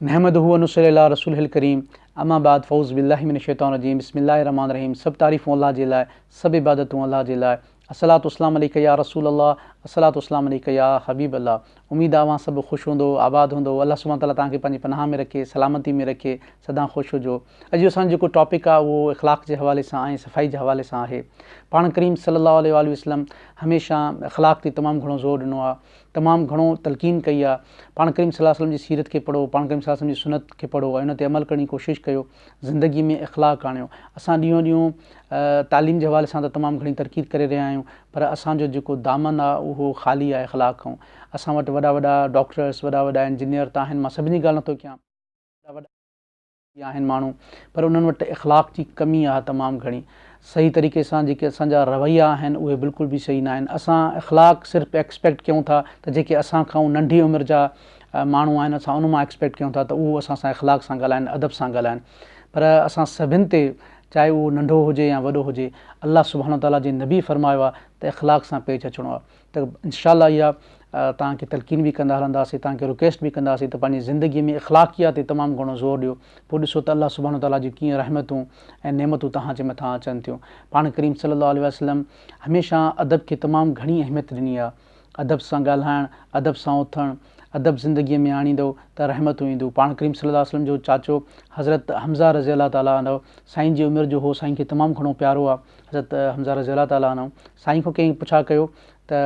نحمده ونصلي علي رسوله الڪريم اما بعد فاعوذ بالله من الشيطان الرجيم بسم الله الرحمٰن الرحيم سڀ تعريفون الله جي لاء سڀ عبادتون الله جي لاء الصلوة والسلام عليڪ يا رسول الله الصلوة والسلام عليڪ يا حبيب الله اميد آ اوهان سڀ خوش هوندو آباد هوندو الله سبحانه وتعاليٰ توهان کي پنهنجي پناهه ۾ رکي سلامتي ۾ رکي سدان خوش هجو اڄ جو اسان جو جيڪو ٽاپڪ آ اهو اخلاق جي حوالي سان ۽ صفائي جي حوالي سان آهي پاڻ ڪريم صلي الله عليه واٰله وسلم هميشه اخلاق تي تمام گهڻو زور ڏنو آ تمام گهڻو تلقين ڪئي آ پاڻ ڪريم صلي الله عليه وسلم جي سيرت کي پڙهو پاڻ ڪريم صلي الله عليه وسلم جي سنت کي پڙهو ۽ ان تي عمل ڪرڻ جي ڪوشش ڪيو زندگي ۾ اخلاق آڻيو اسان ڏينهون ڏينهون تعليم جي حوالي سان ته تمام گهڻي ترقي ڪري رهيا آهيون پر اسان جو جيڪو دامن آ اهو خالي آ اخلاق کان اسان وٽ وڏا وڏا ڊاڪٽرس وڏا وڏا انجنيئر ته آهن مان سڀني جي ڳالهه نٿو ڪيان جي آهن ماڻهو پر انهن وٽ اخلاق جي ڪمي آهي تمام گهڻي صحيح طريقي سان جيڪي اسان جا رويا آهن اهي بلڪل به صحيح ناهن اسان اخلاق صرف ايڪسپيڪٽ ڪيون ٿا ته جيڪي اسان کائون ننڍي عمر جا ماڻهو آهن اسان ان مان ايڪسپيڪٽ ڪيون ٿا ته اهو اسان سان اخلاق سان ڳالهائن ادب سان ڳالهائن پر اسان سڀن تي چاهي اهو ننڍو هجي يا وڏو هجي الله سبحانه وتعاليٰ جي نبي فرمايو آهي ته اخلاق سان پيش اچڻو آهي ته انشاء الله اها توهان کي تلقين به ڪندا هلنداسين توهان کي رڪويسٽ به ڪنداسين ته پنهنجي زندگي ۾ اخلاقيات تي تمام گهڻو زور ڏيو پوء ڏسو ته الله سبحانه وتعاليٰ جون ڪيئن رحمتون ۽ نعمتون توهان جي مٿان اچن ٿيون پاڻ ڪريم صلي الله عليه وسلم هميشه ادب کي تمام گهڻي اهميت ڏني آهي ادب سان ڳالهائڻ ادب سان اٿڻ ادب زندگي ۾ آڻيندو ته رحمتون اينديون پاڻ ڪريم صلي الله عليه وسلم جو چاچو حضرت حمزه رضي الله تعالٰي عنه سائين جي عمر جو هو سائين کي تمام گهڻو پيارو آهي حضرت حمزه رضي الله تعالٰي عنه سائين کان ڪنهن پڇا ڪيو ته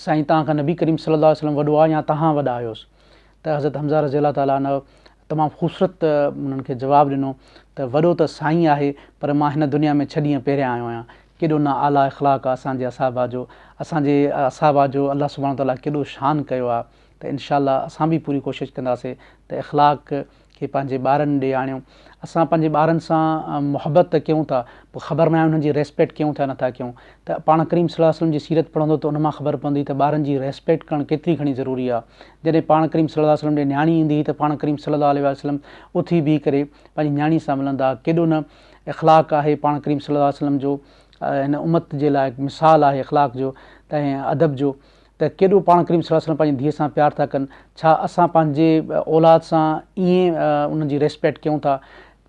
سائين توهان کان نبي ڪريم صلي الله عليه وسلم وڏو آهي يا توهان وڏا آهيو ته حضرت حمزه رضي الله تعالٰي عنه تمام خوبصورت انهن کي جواب ڏنو ته وڏو ته سائين آهي پر مان هن دنيا ۾ ڇهه ڏينهن پهريان آيو آهيان ڪيڏو نه اعلٰي اخلاق آهي اسان جي اصحابه جو اسان جي اصحابه جو الله سبحانه تعالٰي ڪيڏو شان ڪيو آهي ته انشاء الله اسان به پوري ڪوشش ڪنداسين ته اخلاق کي پنهنجي ٻارن ڏي آڻيو اسان پنهنجي ٻارن سان محبت ته ڪيون ٿا پر خبر ناهي انهن جي ريسپيڪٽ ڪيون ٿا يا نٿا ڪيون ته پاڻ ڪريم صلي الله عليه وسلم جي سيرت پڙهندو ته ان مان خبر پوندي ته ٻارن جي ريسپيڪٽ ڪرڻ ڪيتري گهڻي ضروري آهي جڏهن پاڻ ڪريم صلي الله عليه وسلم ڏي نياڻي ايندي هئي ته پاڻ ڪريم صلي الله عليه وسلم اٿي بيهي ڪري پنهنجي نياڻي سان ملندا هئا ڪيڏو نه اخلاق آهي پاڻ ڪريم صلي الله عليه وسلم جو هن امت جي لاء مثال آهي اخلاق جو ته ادب جو ته ڪيڏو پاڻ ڪريم صلي الله عليه وسلم پنهنجي ڌيء سان پيار ٿا ڪن، ڇا اسان پنهنجي اولاد سان ائين انهن جي ريسپيڪٽ ڪيون ٿا،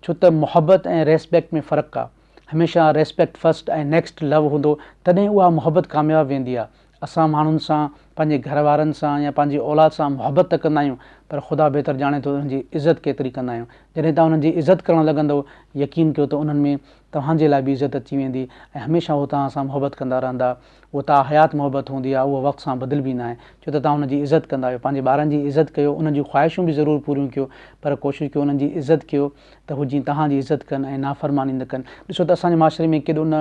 ڇو ته محبت ۽ ريسپيڪٽ ۾ فرق آ، هميشه ريسپيڪٽ فرسٽ ۽ نيڪسٽ لو هوندو تڏهن اها محبت ڪامياب ويندي آ، اسان ماڻهن سان پنهنجي گهر وارن سان يا پنهنجي اولاد سان محبت ته ڪندا آهيون پر خدا بهتر ڄاڻي ٿو ته انهن جي عزت ڪيتري ڪندا آهيون، جڏهن توهان انهن جي عزت ڪرڻ لڳندؤ يقين ڪيو ته انهن ۾ توهان جي لاء به عزت اچي ويندي ۽ هميشه هو توهان سان محبت ڪندا رهندا. اها تا حيات محبت هوندي آهي، اها وقت سان بدلبي ناهي، ڇو ته توهان ان جي عزت ڪندا آهيو، پنهنجي ٻارن جي عزت ڪيو، انهن جون خواهشون به ضرور پوريون ڪيو، پر ڪوشش ڪيو انهن جي عزت ڪيو ته هو جيئن توهان جي عزت ڪن ۽ نافرماني نه ڪن، ڏسو ته اسان جي معاشري ۾ ڪيڏو نه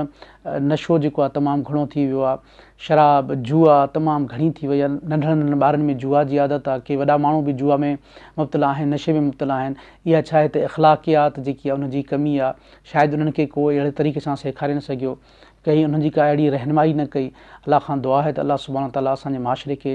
نشو جيڪو آهي تمام گهڻو ٿي ويو آهي، شراب، جوا تمام گهڻي ٿي وئي آهي، ننڍڙن ننڍڙن ٻارن ۾ جوا جي عادت آهي، ڪي وڏا ماڻهو به جوا ۾ مبتلا آهن، نشي ۾ مبتلا آهن، اها ڇا هت اخلاقيات جيڪي آهي ان جي ڪمي آهي، شايد انهن کي ڪو اهڙي طريقي سان سيکاري نه سگهيو، ڪنهن انهن جي ڪا اهڙي رهنمائي نه ڪئي الله کان دعا آهي ته الله سبحانه وتعالٰي اسان جي معاشري کي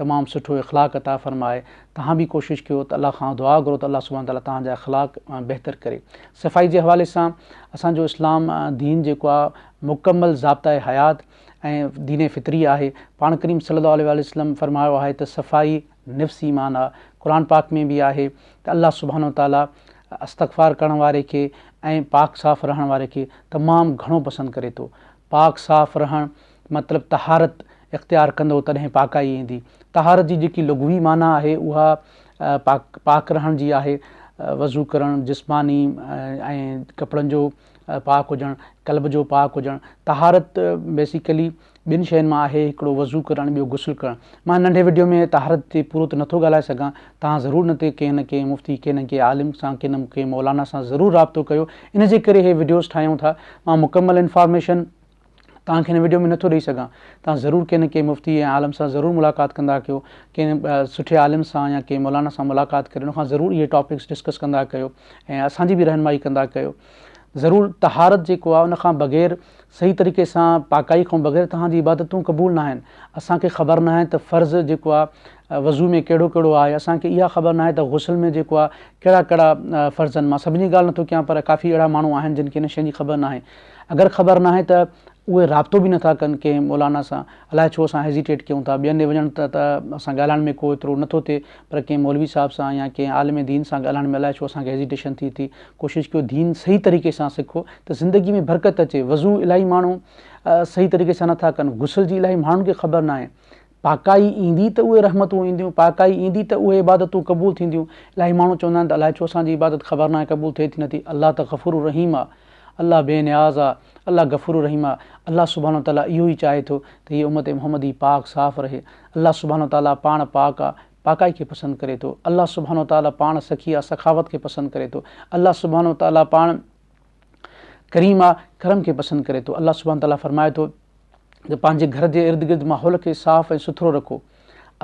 تمام سٺو اخلاق عطا فرمائي توهان به ڪوشش ڪيو ته الله کان دعا گهرو ته الله سبحانه وتعالٰي توهان جا اخلاق بهتر ڪري صفائي جي حوالي سان اسان جو اسلام دين جيڪو آهي مڪمل ضابطه حيات ۽ دين فطري آهي پاڻ ڪريم صلي الله عليه وسلم فرمايو آهي ته صفائي نفس ايمان آهي قرآن پاڪ ۾ به آهي ته الله سبحانه وتعالٰي استغفار ڪرڻ واري کي ۽ پاڪ صاف رهڻ واري کي تمام گهڻو پسند ڪري ٿو. پاڪ صاف رهڻ مطلب طهارت اختيار ڪندو تڏهن پاڪائي ايندي. طهارت جي جيڪي لغوي معنيٰ آهي اها پاڪ رهڻ جي آهي، وضو ڪرڻ، جسماني ۽ ڪپڙن جو پاڪ هجڻ، قلب جو پاڪ هجڻ، طهارت بيسيڪلي ٻن شين مان آهي هڪڙو وضو ڪرڻ ٻيو غسل ڪرڻ، مان هن ننڍي وڊيو ۾ طهارت تي پورو ته نٿو ڳالهائي سگهان، توهان ضرور ان تي ڪنهن نه ڪنهن مفتي ڪنهن نه ڪنهن عالم سان ڪنهن نه ڪنهن مولانا سان ضرور رابطو ڪيو ان جي ڪري هي وڊيوز ٺاهيون ٿا مان مڪمل انفارميشن توهان کي هن وڊيو ۾ نٿو ڏئي سگهان توهان ضرور ڪنهن نه ڪنهن مفتي ۽ عالم سان ضرور ملاقات ڪندا ڪيو ڪنهن سٺي عالم سان يا ڪنهن مولانا سان ملاقات ڪري ان کان ضرور اهي ٽاپڪس ڊسڪس ڪندا ڪيو ۽ اسان جي به رهنمائي ڪندا ڪيو ضرور طهارت جيڪو آهي ان کان بغير صحيح طريقي سان پاڪائي کان بغير توهان جي عبادتون قبول نه آهن اسان کي خبر نه آهي ته فرض جيڪو آهي وضو ۾ ڪهڙو ڪهڙو آهي اسان کي اها خبر نه آهي ته غسل ۾ جيڪو آهي ڪهڙا ڪهڙا فرضن مان سڀني ڳالهه نٿو ڪيان پر ڪافي اهڙا ماڻهو آهن جن کي ان شين جي خبر نه آهي اگر خبر ناهي ته اهي رابطو به نٿا ڪن ڪنهن مولانا سان، الاء ڇو اسان هيزيٽيٽ ڪيون ٿا، ٻين ڏي وڃڻ ته ته سان ڳالهائڻ ۾ ڪو ايترو نٿو ٿئي پر ڪنهن مولوي صاحب سان يا ڪنهن عالم دين سان ڳالهائڻ ۾ الاء ڇو اسان کي هيزيٽيشن ٿي ٿي، ڪوشش ڪيو دين صحيح طريقي سان سکو ته زندگي ۾ برڪت اچي، وضو الاهي ماڻهو صحيح طريقي سان نٿا ڪن، غسل جي الاهي ماڻهن کي خبر ناهي پاڪائي ايندي ته اهي رحمتون اينديون، پاڪائي ايندي ته اهي عبادتون قبول ٿينديون. الاهي ماڻهو چوندا آهن ته الائي ڇو اسان جي عبادت خبر ناهي قبول ٿئي ٿي نه ٿي. الله ته غفور الرحيم آ. الله بي نياز آ. الله غفور الرحيم آ. الله سبحانه و تعاليٰ اهو ئي چاهي ٿو ته هيء امت محمدي پاڪ صاف رهي. الله سبحانه و تعاليٰ پاڻ پاڪ آ، پاڪائي کي پسند ڪري ٿو. الله سبحانه و تعاليٰ پاڻ سخي آ، سخاوت کي پسند ڪري ٿو. الله سبحانه و تعاليٰ پاڻ ڪريم آ، ڪرم کي پسند ڪري ٿو. الله سبحانه وتعاليٰ فرمائي ٿو ته پنهنجي گهر جي ارد گرد ماحول کي صاف ۽ سٿرو رکو.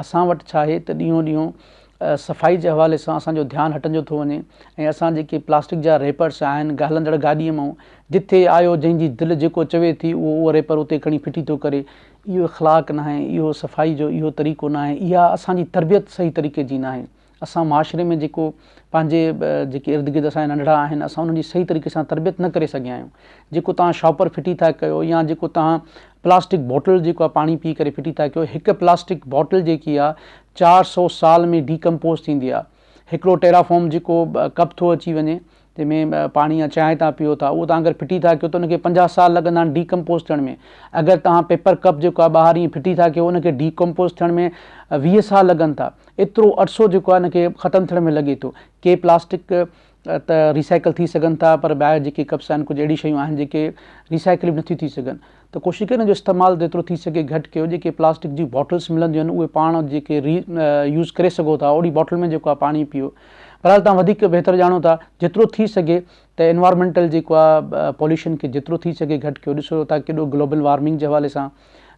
اسان وٽ ڇا آهي ته ڏينهون ڏينهون صفائي جي حوالي سان اسان جو ڌيان هٽجندو ٿو وڃي ۽ اسان جيڪي پلاسٽڪ جا ريپرس آهن گهلندڙ گاڏي مئون جتي آيو جنهن جي دل جيڪو چوي ٿي اهو اهو ريپر اتي کڻي ڦٽي ٿو ڪري اهو اخلاق ناهي اهو صفائي جو اهو طريقو ناهي اها اسان جي تربيت صحيح طريقي جي ناهي اسان معاشري ۾ جيڪو پنهنجي جيڪي ارد گرد اسان جا ننڍڙا آهن اسان انهن جي صحيح طريقي سان تربيت نه ڪري سگهيا آهيون جيڪو توهان شاپر ڦٽي ٿا ڪيو يا جيڪو توهان پلاسٽڪ بوٽل جيڪو آهي پاڻي پي ڪري ڦٽي ٿا ڪيو هڪ پلاسٽڪ بوٽل جيڪي آهي چار سو سال ۾ ڊي ڪمپوز ٿيندي آهي هڪڙو ٽيرا فوم جيڪو ڪپ ٿو اچي وڃي جنهن ۾ پاڻي يا چانهه توهان پيئو ٿا اهو توهان اگر ڦٽي ٿا ڪيو ته ان کي پنجاهه سال لڳندا آهن ڊي ڪمپوز ٿيڻ ۾ اگر توهان پيپر ڪپ جيڪو آهي ٻاهر ائين ڦٽي ٿا ڪيو ان کي ڊي ڪمپوز ٿيڻ ۾ ويهه سال لڳن ٿا ايترو عرصو جيڪو آهي ان کي ختم ٿيڻ ۾ لڳي ٿو ڪي پلاسٽڪ ته ريسائيڪل ٿي سگهن ٿا پر ٻاهر جيڪي ڪپس آهن ڪجهه اهڙي شيون آهن جيڪي ريسائيڪل به نٿيون ٿي سگهن ته ڪوشش ڪيو انهن جو استعمال جيترو ٿي سگهي گهٽ ڪيو جيڪي پلاسٽڪ جون باٽلس ملنديون آهن اهي پاڻ جيڪي ري يوز ڪري سگهو ٿا اوڙي باٽل ۾ جيڪو آهي پاڻي پيو بهرحال تهان وڌيڪ بهتر ڄاڻو ٿا جيترو ٿي سگهي ته انوارمينٽل جيڪو آهي پوليوشن کي جيترو ٿي سگهي گهٽ ڪيو ڏسو ٿا ڪيڏو گلوبل وارمنگ جي حوالي سان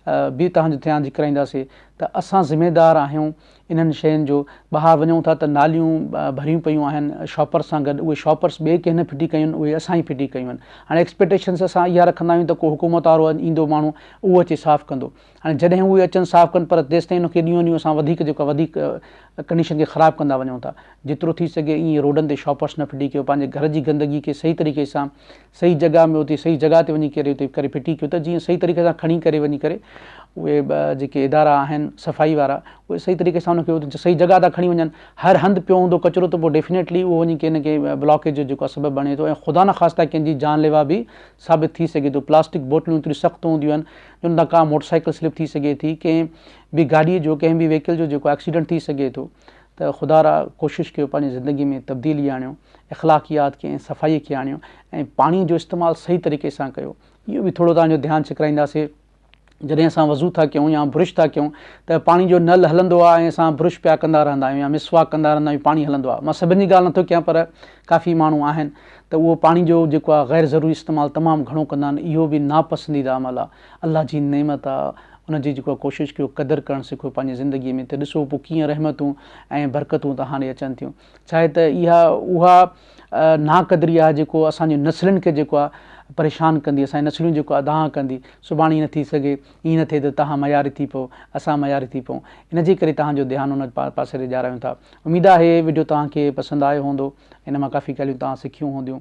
به تهان جي ڌيان جي ڪرائينداسي ته اسان ذميدار آهيون انهن شين جو ٻاهر وڃون ٿا ته ناليون ڀريون پيون آهن شاپرس سان گڏ اهي شاپرس ٻئي ڪنهن نه ڦٽي ڪيون اهي اسان ئي ڦٽي ڪيون آهن هاڻي ايڪسپيٽيشنس اسان اها رکندا آهيون ته ڪو حڪومت وارو ايندو ماڻهو اهو اچي صاف ڪندو هاڻي جڏهن اهي اچن صاف ڪن پر تيستائين ان کي ڏينهون ڏينهون اسان وڌيڪ جيڪو آهي وڌيڪ ڪنڊيشن کي خراب ڪندا وڃون ٿا جيترو ٿي سگهي ائين روڊن تي شاپرس نه ڦٽي ڪيو پنهنجي گهر جي گندگي کي صحيح طريقي سان صحيح جڳهه ۾ اتي صحيح جڳهه تي وڃي ڪري اتي ڪري ڦٽي ڪيو ته جيئن صحيح طريقي سان کڻي ڪري وڃي ڪري اهي جيڪي ادارا آهن صفائي وارا اهي صحيح طريقي سان ان کي اتي صحيح جڳهه تان کڻي وڃن هر هنڌ پيو هوندو ڪچرو ته پوء ڊيفنيٽلي اهو وڃي ڪنهن نه ڪنهن بلاڪيج جو جيڪو سبب بڻي ٿو ۽ خدا نخواسته ڪنهن جي جان ليوا به ثابت ٿي سگهي ٿو پلاسٽڪ بوتلون ايتريون سخت هونديون آهن جن تان ڪا موٽر سائيڪل سلپ ٿي سگهي ٿي ڪنهن به گاڏي جو ڪنهن به ويهڪل جو جيڪو ايڪسيڊنٽ ٿي سگهي ٿو ته خدا را ڪوشش ڪيو پنهنجي زندگي ۾ تبديلي آڻيو اخلاقيات کي ۽ صفائي کي آڻيو ۽ پاڻي جو استعمال صحيح طريقي سان ڪيو اهو به ٿورو توهان جو ڌيان ڇڪرائينداسي جڏهن اسان وضو ٿا ڪيون يا برش ٿا ڪيون ته پاڻي جو نل هلندو آهي ۽ اسان برش پيا ڪندا رهندا آهيون يا مسواڪ ڪندا رهندا آهيون پاڻي هلندو آهي مان سڀن جي ڳالهه نٿو ڪيان پر ڪافي ماڻهو آهن ته اهو پاڻي جو جيڪو آهي غير ضروري استعمال تمام گهڻو ڪندا آهن اهو به ناپسنديده عمل آهي الله جي نعمت آ ان جي جيڪو ڪوشش ڪيو قدر ڪرڻ سکو پنهنجي زندگي ۾ ته ڏسو پوء ڪيئن رحمتون ۽ برڪتون توهان ڏي اچن ٿيون ڇاهي ته اها اها ناقدري آ جيڪو اسان جي نسلن کي جيڪو آ پريشان ڪندي اسان جي نسلون جيڪو اڌاهان ڪندي سڀاڻي ايئن ٿي سگهي ايئن نه ٿئي ته توهان معياري ٿي پئو اسان معياري ٿي پئون ان جي ڪري توهان جو ڌيان ان پاسي ڏي ڏياريون ٿا اميد آ هي وڊيو توهان کي پسند آيو هوندو ان مان ڪافي ڳالهيون توهان سکيون هونديون.